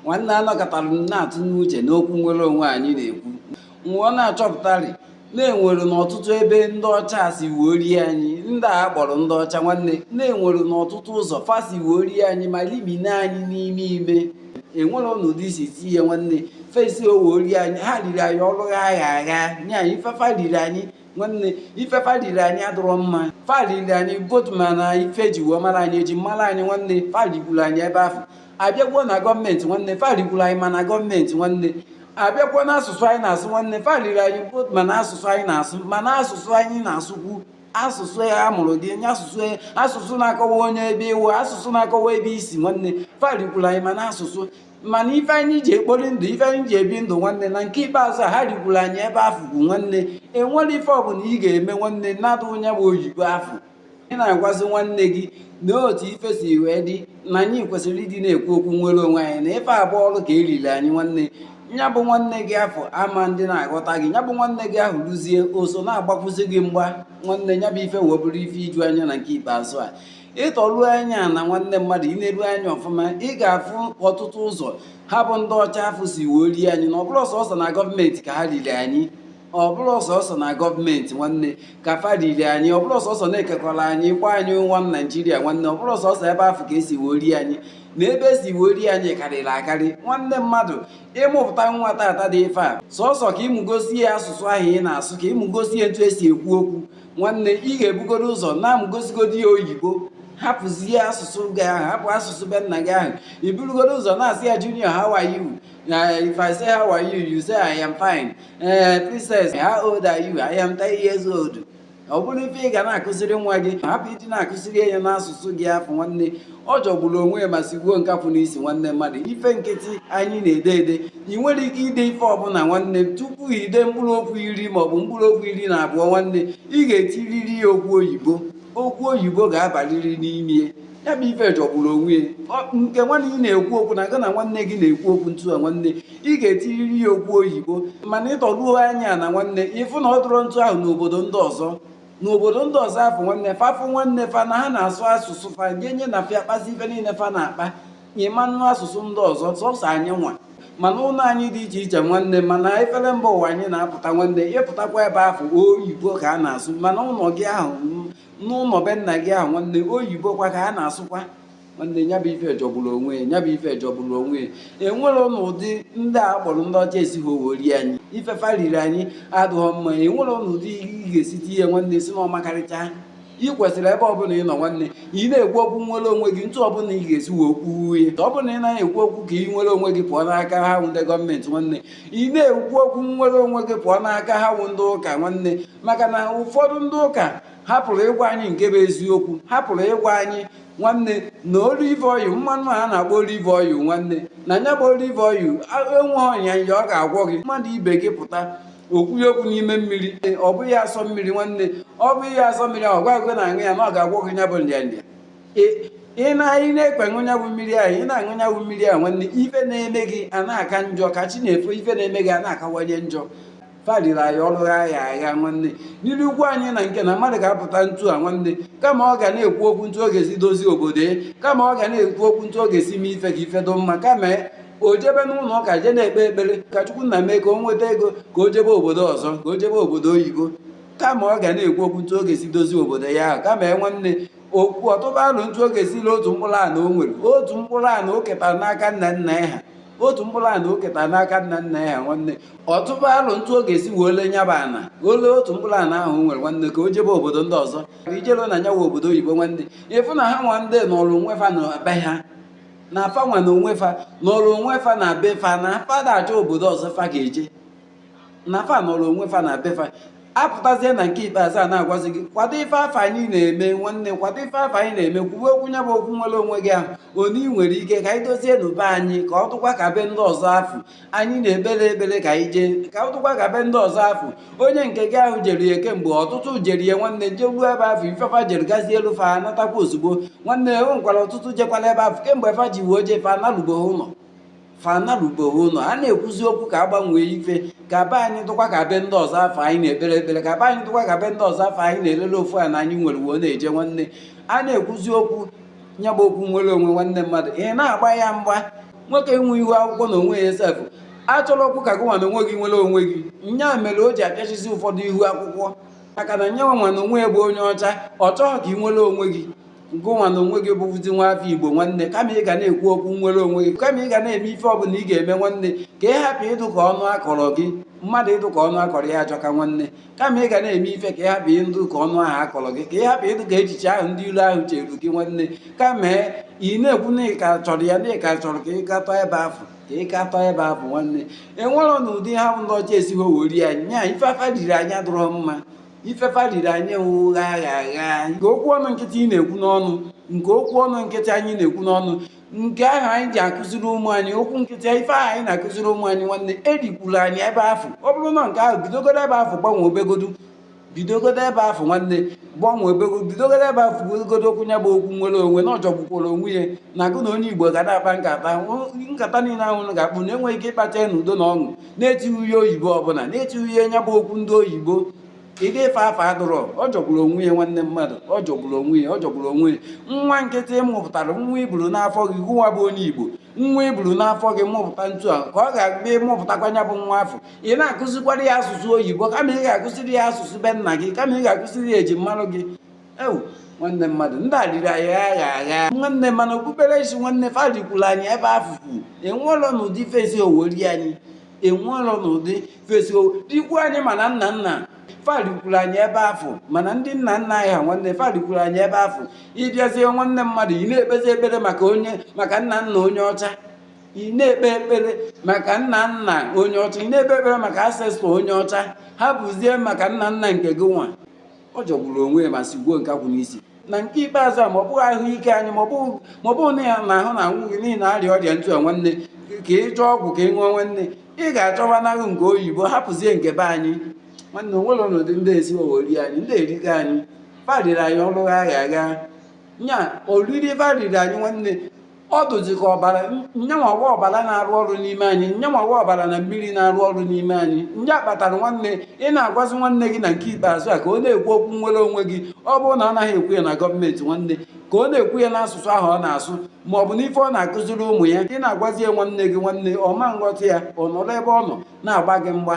nwanne anọkatara m na-atụnye uche n'okwu nnwere onwe anyị na-ekwu m wee na-achọpụtarị na enwere n'ọtụtụ ebe ndị ọcha si wee rie anyị ndị a kpọrọ ndị ọcha nwanne na enwere n'ọtụtụ ụzọ fa si wee rie anyị ma limine anyị n'ime ime enwere ọnọdụ isi tinye nwanne fa esi wee rie anyị ha riri anyị ọrụ ha agha agha nye anyị ife fa riri anyị nwanne ife fa riri anyị adịrọ mma fa riri anyị both ma na ife eji wee mara anyị eji mara anyị nwanne fa rigburu anyị ebe ahụ abịakwuo na gọọmenti nwanne fa rigburu anyị ma na gọọmenti nwanne abịakwa n'asụsụ anyị na-asụ nwanne fa liri anyị both ma na asụsụ anyị na-asụ ma na asụsụ anyị na-asụkwu asụsụ ya a mụrụ gị nye asụsụ ya asụsụ na-akọwa onye ebe ị wụ asụsụ na-akọwa ebe i si nwanne fa rikwuru anyị ma na asụsụ ma na ife anyị ji ekpori ndụ ife anyị ji ebi ndụ nwanne na nke ikpeazụ a ha rikwuru anyị ebe afụ bụ nwanne enwerọ ife ọbụla ị ga-eme nwanne na-adụ onye bụ oyibo afụ ị na-agwazi nwanne gị na otu ife si wee dị na anyị kwesịrị ịdị na-ekwu okwu nnwere onwe anyị na ife a bụ ọrụ ka eriri anyị nwanne ya bụ nwanne gị afụ ama adị na-aghọta gị ya bụ nwanne gị ahụ rụzie oso na-agbakwụzi gị mgba nwanne ya bụ ife wee bụrụ ife iju anya na nke ikpeazụ a ịtọruo anya ana nwanne mmadụ ineru anya ọfụma ị ga-afụ ọtụtụ ụzọ ha bụ ndị ọcha afụ si wee rie anyị na ọ bụrọ sọsọ na gọọmenti ka ha riri anyị ọ bụrọ sọsọ na gọọmenti nwanne ka fa riri anyị ọ bụrọ sọsọ na ekekọrọ anyị kpọọ anyị one naijiria nwanne ọ bụrọ sọsọ ebe afụ ka esi wee rie anyị na ebe esi wee rie anyị karịrị akarị nwanne mmadụ ịmụpụta nwa tata dị ife a sọsọ ka ịmụgosi ya asụsụ ahụ ị na-asụ ka ịmụgosi ya etu esi ekwu okwu nwanne ị ga-ebugoro ụzọ na-amụgosigodi ya oyibo hapụzie asụsụ gị ahụ hapụ asụsụ be nna gị ahụ iburugodu ụzọ na-asị ya junior how are you Uh, if I say, How are you? You say, I am fine. Uh, princess, how old are you? I am 10 years old. ọ bụrụ ife ị ga na-akụziri nwa gị hapụ ịdị na-akụziri ya n'asụsụ gị afụ nwanne ọ jọgburu onwe ya ma sigbuo nkapụ n'isi nwanne mmadụ ife nkịtị anyị na-ede ede ị nwere ike ide ife ọbụla nwanne tupu ide mkpụrụ okwu iri maọbụ mkpụrụ okwu iri na abụọ nwanne ị ga-etiriri ya okwu oyibo okwu oyibo ga-abariri n'ime ya bụ ife jọgburu onwe ya nke nwanne gị na-ekwu okwu na gị na nwanne gị na-ekwu okwu ntu a nwanne ị ga-etiriri ya okwu oyibo mana ịtọruo anya ana nwanne ịfụ na ọ dụrọ ntu ahụ n'obodo ndị ọzọ n'obodo ndị ọzọ afụ nwanne fa fụ nwanne fa na ha na-asụ asụsụ fa nye nye na fa akpazi ife niile fa na-akpa ị ma-anụ asụsụ ndị ọzọ sọsọ anyịnwa ma n'ụlọ anyị dị iche iche nwanne ma na efere mba ụwa anyị na-apụta nwanne ịpụtakwa ebe afụ oyibo ka a na-asụ ma n'ụlọ gị ahụ n'ụlọ be nna gị ahụ nwanne oyibo kwa ka a na-asụkwa nwanne ya bụ ife jọgburu onwe ya bụ ife jọgburu onwe ya enwere n'ụdị ndị a kpọrọ ndị ọcha esighị wee rie anyị ife fa riri anyị adụghọ mma enwere n'ụdị ị ga-esite ihe nwanne sị na ọ makarịcha ị kwesịrị ebe ọbụla ị nọ nwanne ị na-ekwu okwu nwere onwe gị ntu ọbụla ị ga-esi wee kwuo ya ọ bụrụ na ị naghị ekwu okwu ka ị nwere onwe gị pụọ n'aka ha wụ ndị gọọmenti nwanne ị na-ekwu okwu nwere onwe gị pụọ n'aka ha wụ ndị ụka nwanne maka na ụfọdụ ndị ụka hapụrụ ịgwa anyị nke bụ eziokwu hapụrụ ịgwa anyị nwanne na olive oil mmanụ a na-akpọ olive oil nwanne na nya bụ olive oil enweghị nrịanrịa ọ ga-agwọ gị mmadụ ibe gị pụta o kwunye okwu n'ime mmiri ọ bụnye asọ mmiri nwanne ọ bụnye asọ mmiri ahụ gwa gị na-aṅụ ya na ọ ga-agwọ gị nya bụ nrịanrịa ị na-anyị na-ekpe aṅụ nya wụ mmiri ahụ ị na-aṅụ nya wụ mmiri ahụ nwanne ife na-eme gị a na-aka njọ ka chi na-efo ife na-eme gị a na-akawanye njọ fa riri anyị ọrụ ha ya agha nwanne na-erikwu anyị na nke na mmadụ ga-apụta ntu a nwanne kama ọ ga na-ekwu okwu ntu ọ ga-esi dozie obodo ya kama ọ ga na-ekwu okwu ntu ọ ga-esi mee ife ka ife dụ mma kama o jebe n'ụlọ ụka jee na-ekpe ekpere ka chukwu nna mee ka o nweta ego ka o jebe obodo ọzọ ka o jebe obodo oyibo kama ọ ga na-ekwu okwu ntu ọ ga-esi dozie obodo ya ahụ kama e nwanne okwu ọ tụba alo ntu ọ ga-esi le otu mkpụrụ ana o nwere otu mkpụrụ ana o ketara n'aka nna nna ya ha otu mkpụrụ ana o ketara n'aka nna nna ya ha nwanne ọ tụba alo ntu ọ ga-esi wee le nya bụ ana o le otu mkpụrụ ana ahụ o nwere nwanne ka o jebe obodo ndị ọzọ i jeluo na nya wụ obodo oyibo nwanne ị fụ na ha nwa ndị nọrọ onwe fa na be ha na fa nwa na onwe fa nọrọ onwe fa na be fa na fa ada achọ obodo ọzọ fa ga-eje na fa nọrọ onwe fa na be fa apụtazie na nke ikpeazụ a na-agwazi gị kwado ife afụ anyị na-eme nwanne kwado ife afụ anyị na-eme kwuwe okwu nya bụ okwu nwere onwe gị ahụ onye ị nwere ike ka anyị dozienụ be anyị ka ọ dụkwa ka be ndị ọzọ afụ anyị na-ekpere ekpere ka anyị jee ka ọ dụkwa ka be ndị ọzọ afụ onye nke gị ahụ jere ya kemgbe ọtụtụ jere ya nwanne je ruo ebe afụ ife fa jere gazielu fa natakwa ozugbo nwanne o nwekwara ọtụtụ jekwara ebe afụ kemgbe fa ji wee jee fa analubeghi ụlọ fa anarubeghi ụlọ a na-ekwuzi okwu ka a gbanwee ife ka be anyị dụkwa ka be ndị ọzọ afụ anyị na-ekpere ekpere ka be anyị dụkwa ka be ndị ọzọ afụ anyị na-elele ofu ana anyị nwere wee na-eje nwanne a na-ekwuzi okwu nya bụ okwu nwere onwe nwanne mmadụ ị na-agba ya mgba nwoke nwe ihu akwụkwọ na onwe ya sefụ achọrọkwu ka gị nwa na onwe gị nwere onwe gị nya mere o ji apịachizi ụfọdụ ihu akwụkwọ maka na nya nwa na onwe ya bụ onye ọcha ọ chọghị ka ị nwere onwe gị ngụ nwa na onwe gị bụzi nwa afọ igbo nwanne kama ị ga na-ekwu okwu nwere onwe gị kama ị ga na-eme ife ọbụla ị ga-eme nwanne ka ị hapụ ịdụ ka ọnụ a kọrọ gị mmadụ ịdụ ka ọnụ a kọrọ ya ajọka nwanne kama ị ga na-eme ife ka ị hapụ ịdụ ka ọnụ ahụ a kọrọ gị ka ị hapụ ịdụ ka echiche ahụ ndị ilo ahụ cheru gị nwanne kama ị na-ekwu na ị ka chọrọ ya na ị ka chọrọ ka ị gatọ ebe afụ ka ị gatọ ebe afụ nwanne enwere n'ụdị ha bụ ndị ọcha esighị wee rie anyị nya ife fa riri anyị adụrọ mma ife fa riri anyị aghụghọ nke okwu ọnụ nkịtị ị na-ekwu n'ọnụ nke okwu ọnụ nkịtị anyị na-ekwu n'ọnụ nke ahụ anyị ji akụziri ụmụ anyị okwu nkịtị ife ahụ anyị na-akụziri ụmụ anyị nwanne e rikwuru anyị ebe afụ ọ bụrụ na nke ahụ bidogodo ebe afọ gbanwee obegodu bidogodo ebe afọ nwanne gbanwee obegodu bidogodo ebe afọ godo okwu ya bụ okwu nwere onwe na ọ jọgbukwara onwe ya na gụnwa onye igbo ga na-akpa nkata nkata niile ahụ ga-akpa na enweghị ike ịkpacha ya na udo na ọṅụ na-etinyeghị oyibo ọbụla na-etinyeghị nya bụ okwu ndị oyibo ụdị ife afụ adụrọ ọ jọgburu onwe ya nwanne mmadụ ọ jọgburu onwe ya ọ jọgburu onwe ya nwa nke ị mụpụtara nwa i buru n'afọ gị gụwa bụ onye igbo nwa i buru n'afọ gị mụpụta ntu a ka ọ ga-abịa ị mụpụtakwa nya bụ nwa afọ ị na-akụzikwara ya asụsụ oyibo kama ị ga-akụziri ya asụsụ be nna gị kama ị ga-akụziri ya eji marụ gị ewu nwanne mmadụ ndị a riri anyị aghụghọ nwanne ma na okpukperechi nwanne fa rikwuru anyị ebe afụ enwelọ n'ụdị fa esiwọ rie anyị enwelọ n'ụdị fa esiwọ rikwu anyị ma na nna nna fa rikwuru anyị ebe afụ ma na ndị nna nna anyị ha nwanne fa rikwuru anyị ebe afụ ị bịazie nwanne mmadụ ị na-ekpezi ekpere maka onye maka nna nna onye ọcha ị na-ekpe ekpere maka nna nna onye ọcha ị na-ekpe ekpere maka ancestor onye ọcha hapụzie maka nna nna nke gị nwa ọ jọgburu onwe ya ma sigbuo nkakwụ n'isi na nke ikpeazụ a ma ọ bụghị ahụike anyị ma ọ bụ na ya na ahụ na-anwụ gị na ị na-arịa ọrịa ntụ a nwanne ka ị chọọ ọgwụ ka ị ṅụọ nwanne ị ga-achọwa naghụ nke oyibo hapụzie nke be anyị nwanne enwelọ n'ụdị ndị a esiwọ rie anyị ndị a erigo anyị fa riri anyị ọrụ aghụghọ nya oriri fa riri anyị nwanne ọ dụzi ka ọbara nyanwa bụ ọbara na-arụ ọrụ n'ime anyị nyanwa bụ ọbara na mmiri na-arụ ọrụ n'ime anyị nya kpatara nwanne ị na-agwazi nwanne gị na nke ikpeazụ a ka ọ na-ekwu okwu nwere onwe gị ọ bụrụ na ọ naghị ekwu ya na gọọmenti nwanne ka ọ na-ekwu ya n'asụsụ ahụ ọ na-asụ ma ọ bụ n'ife ọ na-akụziri ụmụ ya ị na-agwazi ya nwanne gị nwanne ọ ma nghọta ya ọ nọrọ ebe ọ nọ na-agba gị mgba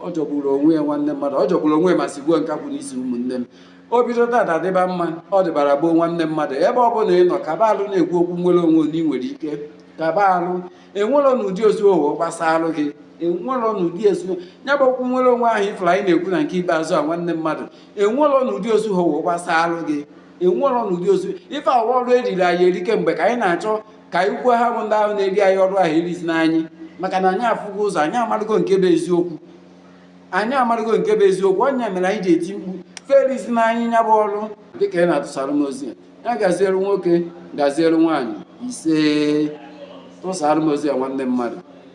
ọ jọgburu onwe ya nwanne mmadụ ọ jọgburu onwe ya ma sigbuo nkakwụ n'isi ụmụnne m o bido taata dịba mma ọ dịbara gboo nwanne mmadụ ebe ọ bụla ị nọ kaba alụ na-ekwu okwu nwere onwe na ị nwere ike kaba alụ enwerọ n'ụdị o siwọ gbasalụ gị enwerọ n'ụdị o siwọ ya bụ okwu nwere onwe ahụ ị fụrụ anyị na-ekwu na nke ikpeazụ a nwanne mmadụ enwerọ n'ụdị o siwọ gbasalụ gị enwerọ n'ụdị o siwọ ife awa ọrụ eriri anyị eri kemgbe ka anyị na-achọ ka anyị kwuo ha bụ ndị ahụ na-eri anyị ọrụ ahụ erizina anyị maka na anyị afụgo ụzọ anyị amarụgo nke bụ eziokwu anyị amarụgo nke bụ eziokwu ọ nya mere anyị ji eti mkpu fa erizina anyị nya bụ ọrụ dịka ị na-atụsara m ozi ya gaziere nwoke gaziere nwaanyị ise tụsara m ozi ya nwanne mmadụ